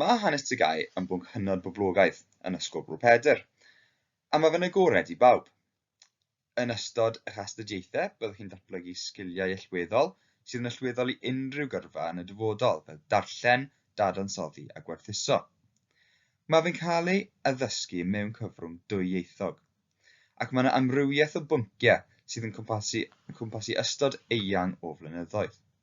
Mae hanes Tsegaye yn bwnc hynod boblogaidd yn Ysgol Bro Pedr, a mae fe'n agored i bawb. Yn ystod eich astudiaethau, byddwch chi'n datblygu sgiliau allweddol sydd yn allweddol i unrhyw gyrfa yn y dyfodol, fel darllen, dadansoddi a gwerthuso. Mae fe'n cael ei addysgu mewn cyfrwng dwyieithog, ac mae yna amrywiaeth o bynciau sydd yn cwmpasu ystod eang o flynyddoedd.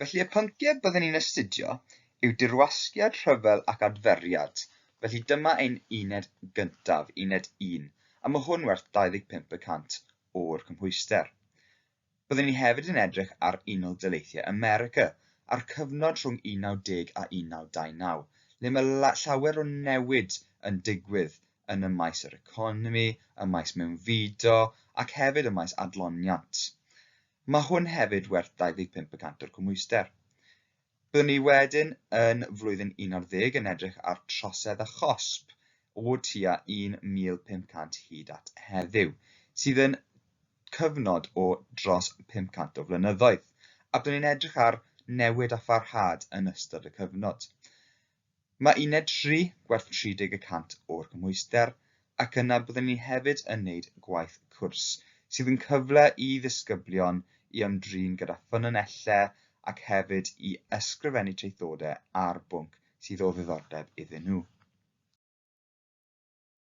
Felly y pynciau byddwn ni'n astudio yw dirwasgiad, rhyfel ac adferiad. Felly dyma ein uned gyntaf, uned 1, a mae hwn werth 25 y cant o'r cymhwyster. Byddwn ni hefyd yn edrych ar Unol Daleithiau America a'r cyfnod rhwng 19 a 1929, le mae llawer o newid yn digwydd yn y maes yr economi, y maes mewnfudo ac hefyd y maes adloniant. Mae hwn hefyd werth 25 y cant o'r cymhwyster. Byddwn ni wedyn yn flwyddyn 11 yn edrych ar trosedd a chosb o tua 1,500 hyd at heddiw, sydd yn cyfnod o dros 500 o flynyddoedd, a byddwn ni'n edrych ar newid a pharhad yn ystod y cyfnod. Mae uned tri gwerth 30 y cant o'r gymhwyster ac yna byddwn ni hefyd yn wneud gwaith cwrs sydd yn cyfle i ddisgyblion i ymdrin gyda ffynonellau ac hefyd i ysgrifennu traethodau ar bwnc sydd o ddiddordeb iddyn nhw.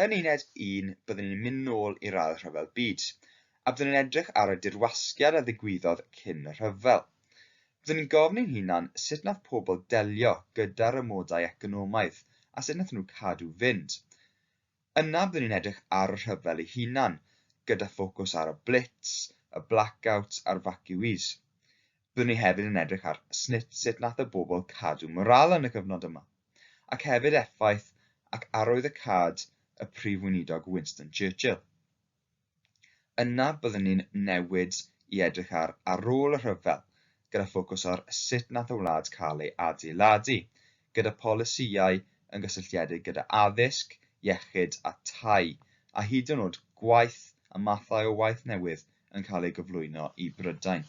Yn uned un, byddwn ni'n mynd nôl i'r ail rhyfel byd, a byddwn ni'n edrych ar y dirwasgiad a ddigwyddodd cyn y rhyfel. Byddwn ni'n gofyn i'n hunan sut wnaeth pobl delio gyda'r amodau economaidd a sut wnaethon nhw cadw fynd. Yna byddwn ni'n edrych ar y rhyfel ei hunan, gyda ffocws ar y Blitz, y blackouts a'r vacuees. Byddwn ni hefyd yn edrych ar snit sut wnaeth y bobl cadw morale yn y cyfnod yma. ac hefyd effaith ac arwyddocâd y Prif Weinidog Winston Churchill. Yna byddwn ni'n newid i edrych ar ar ôl y rhyfel, gyda ffocws ar sut nath y wlad cael ei adeiladu, gyda polisïau yn gysylltiedig gyda addysg, iechyd a tai, a hyd yn oed gwaith a mathau o waith newydd yn cael ei gyflwyno i Brydain.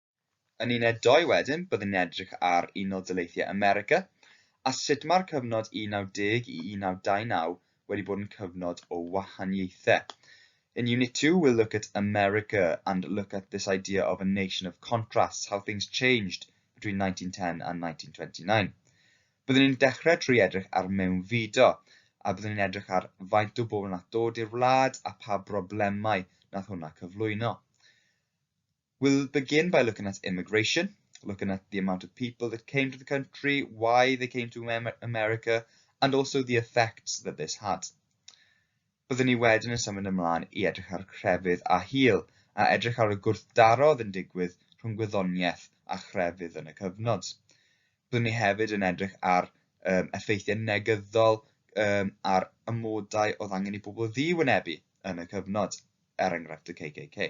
Yn uned dou wedyn, byddwn ni'n edrych ar Unol Daleithiau America a sut mae'r cyfnod 19 i 1929 wedi bod yn cyfnod o wahaniaethau. In Unit 2, we'll look at America and look at this idea of a nation of contrasts, how things changed between 1910 and 1929. Byddwn ni'n dechrau trwy edrych ar mewnfudo, a byddwn ni'n edrych ar faint o bobl nath dod i'r wlad a pa broblemau nath hwnna cyflwyno. We'll begin by looking at immigration, looking at the amount of people that came to the country, why they came to America, and also the effects that this had. Byddwn ni wedyn yn symud ymlaen i edrych ar crefydd a hil, a edrych ar y gwrthdaro oedd yn digwydd rhwng gwyddoniaeth a chrefydd yn y cyfnod. Byddwn ni hefyd yn edrych ar um, effeithiau negyddol um, ar amodau oedd angen i bobl ddiwynebu yn y cyfnod, er enghraifft y KKK.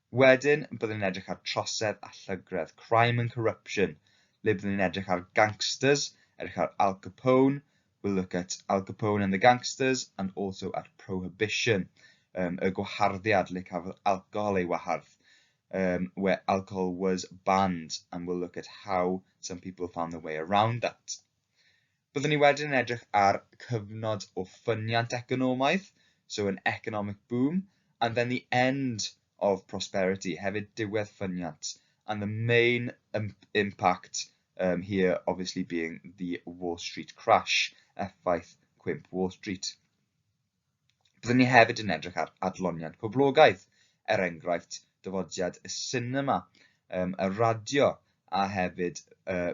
Wedyn byddwn ni'n edrych ar trosedd a llygredd, crime and corruption, le byddwn ni'n edrych ar gangsters, edrych ar Al Capone, we'll look at Al Capone and the gangsters, and also at prohibition, um, y gwaharddiad le cafodd alcohol ei wahardd, um, where alcohol was banned, and we'll look at how some people found their way around that. Byddwn ni wedyn yn edrych ar cyfnod o ffyniant economaidd, so an economic boom, and then the end of prosperity, hefyd diwedd ffyniant, and the main impact um, here obviously being the Wall Street crash, effaith cwymp Wall Street. Byddwn ni hefyd yn edrych ar adloniant poblogaidd, er enghraifft dyfodiad y sinema, um, y radio a hefyd uh,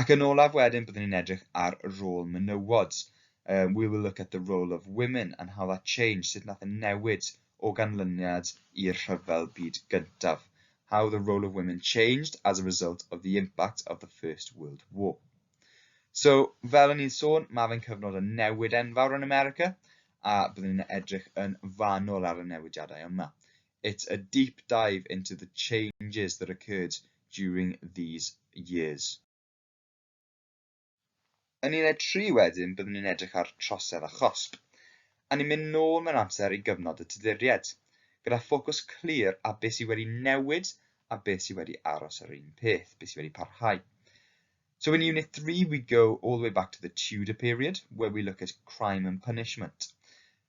Ac yn olaf wedyn, byddwn ni'n edrych ar y rôl menywod. Um, we will look at the role of women and how that changed, sut nath y e newid o ganlyniad i'r rhyfel byd gyntaf. How the role of women changed as a result of the impact of the First World War. So, fel o'n i'n sôn, mae fe'n cyfnod yn newid enfawr yn America, a byddwn ni'n edrych yn fanol ar y newidiadau yma. It's a deep dive into the changes that occurred during these years. Yn uned tri wedyn byddwn ni'n edrych ar trosedd a chosb, a ni'n mynd nôl mewn amser i gyfnod y Tuduriaid, gyda ffocws clir ar beth sydd wedi newid a beth sydd wedi aros yr un peth, beth sydd wedi parhau. So in Unit 3 we go all the way back to the Tudor period, where we look at crime and punishment.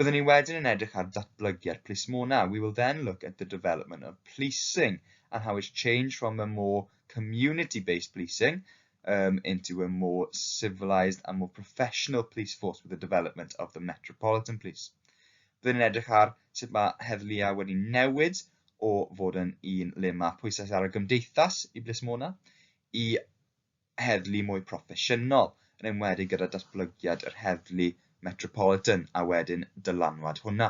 Byddwn ni wedyn yn edrych ar ddatblygiad plismona, we will then look at the development of policing and how it's changed from a more community-based policing um, into a more civilised and more professional police force with the development of the Metropolitan Police. Byddwn ni'n edrych ar sut mae heddliau wedi newid o fod yn un le mae pwysau ar y gymdeithas i blismona, i heddlu mwy proffesiynol, yn enwedig gyda datblygiad yr heddlu metropolitan a wedyn dylanwad hwnna.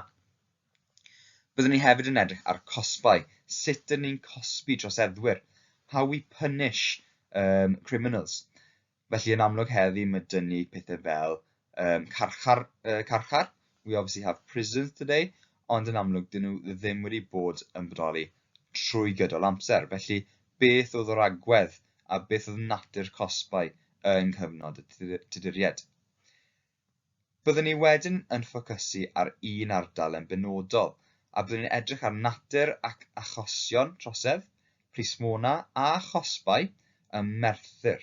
Byddwn ni hefyd yn edrych ar cosbau, sut dyn ni'n cosbi troseddwyr, how we punish um, criminals. Felly yn amlwg heddi mae dyn ni pethau fel um, carchar, uh, carchar. We obviously have prisons today, ond yn amlwg dyn nhw ddim wedi bod yn bodoli trwy gydol amser. Felly, beth oedd yr agwedd a beth oedd natur cosbau yng nghyfnod y Tuduriaid? Byddwn ni wedyn yn ffocysu ar un ardal yn benodol, a byddwn ni'n edrych ar natur ac achosion trosedd, prismona a chosbau ym Merthyr.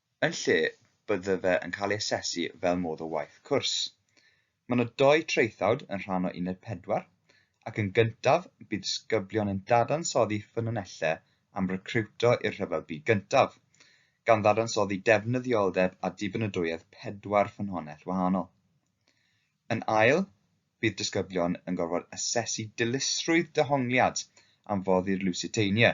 yn lle bydde fe yn cael ei asesu fel modd o waith cwrs. Mae yna dou traethawd yn rhan o Uned Pedwar, ac yn gyntaf bydd disgyblion yn dadansoddi ffynonellau am recriwto i'r Rhyfel Byd Gyntaf, gan ddadansoddi defnyddioldeb a dibynadwyedd pedwar ffynhonnell wahanol. Yn ail, bydd disgyblion yn gorfod asesu dilysrwydd dehongliad am foddi'r Lusitania,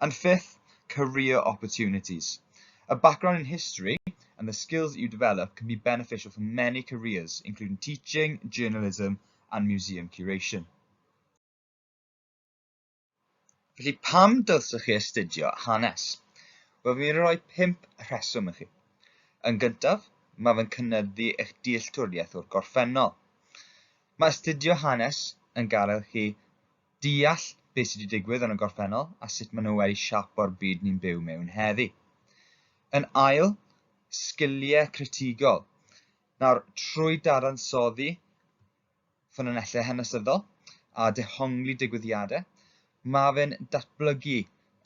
And fifth, career opportunities. A background in history and the skills that you develop can be beneficial for many careers, including teaching, journalism and museum curation. Felly, pam dylsech chi astudio hanes? Wel, fi'n mynd i roi pimp rheswm i chi. Yn gyntaf, mae fe'n cynyddu eich dealltwriaeth o'r gorffennol. Mae astudio hanes yn gael chi deall beth sydd wedi digwydd yn y gorffennol a sut maen nhw wedi siapo'r byd ni'n byw mewn heddi. Yn ail, sgiliau critigol. Nawr, trwy dadansoddi ffynonellau hanesyddol a dehongli digwyddiadau, mae fe'n datblygu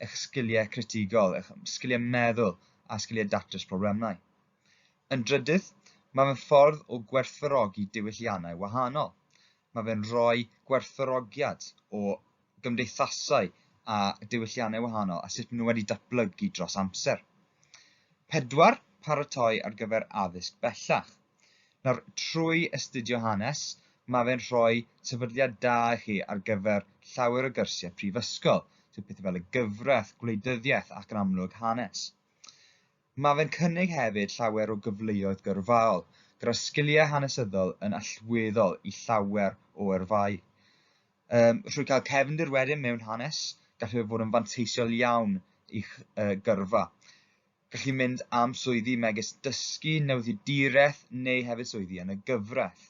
eich sgiliau critigol, eich sgiliau meddwl a sgiliau datrys problemau. Yn drydydd, mae fe'n ffordd o gwerthfawrogi diwylliannau wahanol. Mae fe'n rhoi gwerthfawrogiad o gymdeithasau a diwylliannau wahanol a sut maen nhw wedi datblygu dros amser. Pedwar, paratoi ar gyfer addysg bellach. Nawr, trwy astudio hanes, mae fe'n rhoi sefydliad da i chi ar gyfer llawer o gyrsiau prifysgol, so pethau fel y gyfraith, gwleidyddiaeth ac yn amlwg hanes. Mae fe'n cynnig hefyd llawer o gyfleoedd gyrfaol, gyda sgiliau hanesyddol yn allweddol i llawer o yrfaoedd. Yym, trwy cael cefndir wedyn mewn hanes, gallu fe fod yn fanteisiol iawn i'ch uh, gyrfa. Gallu mynd am swyddi megis dysgu, newyddiaduraeth neu hefyd swyddi yn y gyfraith.